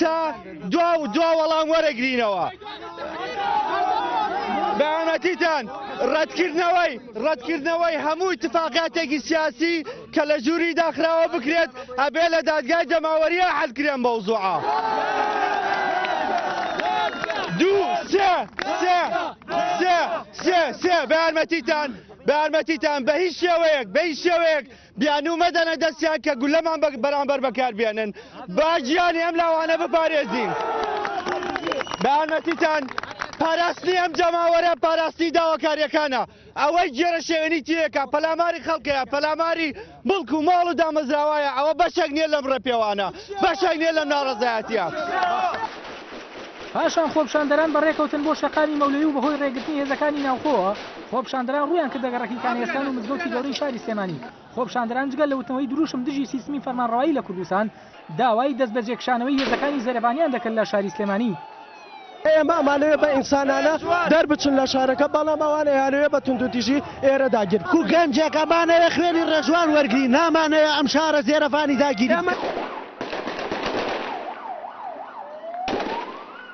تا دوا و دوا وەڵام وەرەگرینەوە بەامەتیتان ڕەتکردنەوەی ڕەتکردنەوەی هەموو اتفاقاتێکی سیاسی کە لە ژووری داخراوە بکرێت ئەبێ لە دادگای جەماوەریە حەلکرێن بەوزوعە دوو سێ سێ سێ سێ سێ بەارمەتیتان بەارمەتیتان بە هیچ شێوەیەک بە هیچ شێوەیەک بیانوو مەدەنە دەستیان کە گولەمان بە بەرامبەر بەکاربێنن با گیانی ئەم لاوانە بپارێزین بە یارمەتیتان پاراستنی ئەم جەماوەرە پاراستی داواکاریەکانە ئەوەی گێرە شێوێنی تیەکە پەلاماری خەڵکەیە پەلاماری مڵک و ماڵ و دامەزراوایە ئەوە بەشێک نییە لەم ڕێپێوانە بەشێک نییە لەم ناڕزایەتە. پاشان خۆپشاندەران بەڕێکەوتن بۆ شەقامی مەولەی و بەهۆی ڕێگرتنی هێزەکانی ناوخۆوە، خۆپیشاندەران ڕوویان کردە گەڕەکی کانیەستان و مزگەوتی گەورەی شاری سلێمانی، خۆپیشاندەران جگە لە وتنەوەی درووشم دژی سیستمی فەرمانڕەوایی لە کوردستان، داوای دەستبەجێکشانەوەی هێزەکانی زێرەڤانیان دەکرد لە شاری سلێمانی. ئێمە ئەمانەوێت بە ئینسانانە دەربچن لە شارەکە، بەڵام ئەوان ئەیانەوێت بە توندوتیژی ئێرە داگیر بکەن. گەنجێک، ئەمانەوێت خوێنی ڕێژوان وەرگرین، نامانەوێت ئەم شارە زێرەڤانی داگیری بکەن.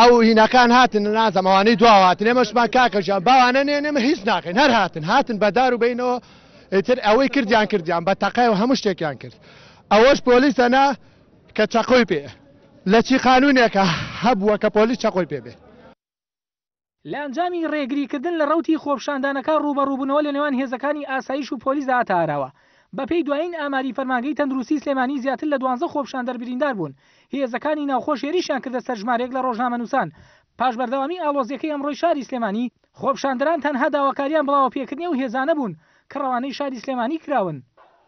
ئەو هینەکان هاتن نازم ئەوانەی دواوە هاتن ئێمەشمان کاکە ژیان باوانە نێن ئێمە هیچ ناکەین هەر هاتن هاتن بە دار و بینەوە ئیتر ئەوەی کردیان کردیان بە تەقای و هەموو شتێکیان کرد ئەوەش پۆلیسە نا کە چەقۆی پێ لە چی قانونێکە هەبووە کە پۆلیس چەقۆی پێ بێ لە ئەنجامی رێگریکردن لە رەوتی خۆپیشاندانەکە رووبەڕووبوونەوە لە نێوان هێزەکانی ئاسایش و پۆلیسدا هاتە ئاراوە. بەپێی دوایین ئاماری فەرمانگەی تەندروستی سلێمانی زیاتر لە دوانزە خۆپیشاندەر برینداربوون، هێزەکانی ناوخۆش هێرشیان کردە سەر ژمارێک لە رۆژنامەنووسان. پاش بەردەوامی ئاڵۆزیەکەی ئەمڕۆی شاری سلێمانی، خۆپیشاندەران تەنها داواکاریان بڵاوەپێکردنی ئەو هێزانە بوون کە رەوانەی شاری سلێمانی کراون.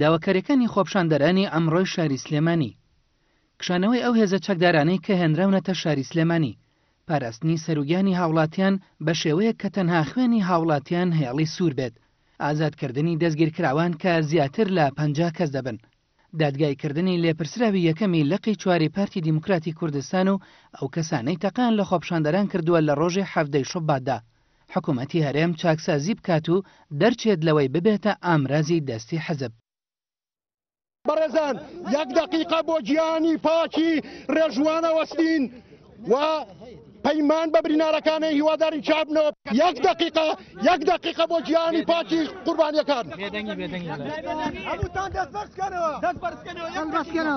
داواکاریەکانی خۆپشاندەرانی ئەمڕۆی شاری سلێمانی، کشانەوەی ئەو هێزە چەکدارانەی کە هێنراونەتە شاری سلێمانی، پاراستنی سەروگیانی هاوڵاتیان بە شێوەیەک کە تەنها خوێنی هاوڵاتیان هێڵی سوور بێت، ئازادکردنی دەستگیرکراوان کە زیاتر لە پەنجا کەس دەبن، دادگایی کردنی لێپرسراوی یەکەمی لقی چواری پارتی دیموکراتی کوردستان و ئەو کەسانەی تەقەیان لە خۆپشاندەران کردووە لە ڕۆژی حەڤدە ی شوباتدا. حکومەتی هەرێم چاکسازی بکات و دەرچێت لەوەی ببێتە ئامرازی دەستی حزب. بەڕێزان یەک دەقیقە بۆ گیانی پاکی ڕێژوان ئەوەستین و پەیمان بە برینارەکانی هیوادارین چاک بنەوە یەک دەقیقە یەک دەقیقە بۆ گیانی پاکی قوربانیەکان بێدەنگی بێدەنگی بێدەنگی. هەمووتان دەست بەرز کەنەوە دەست بەرز کەنەوە یەک دەقیقە.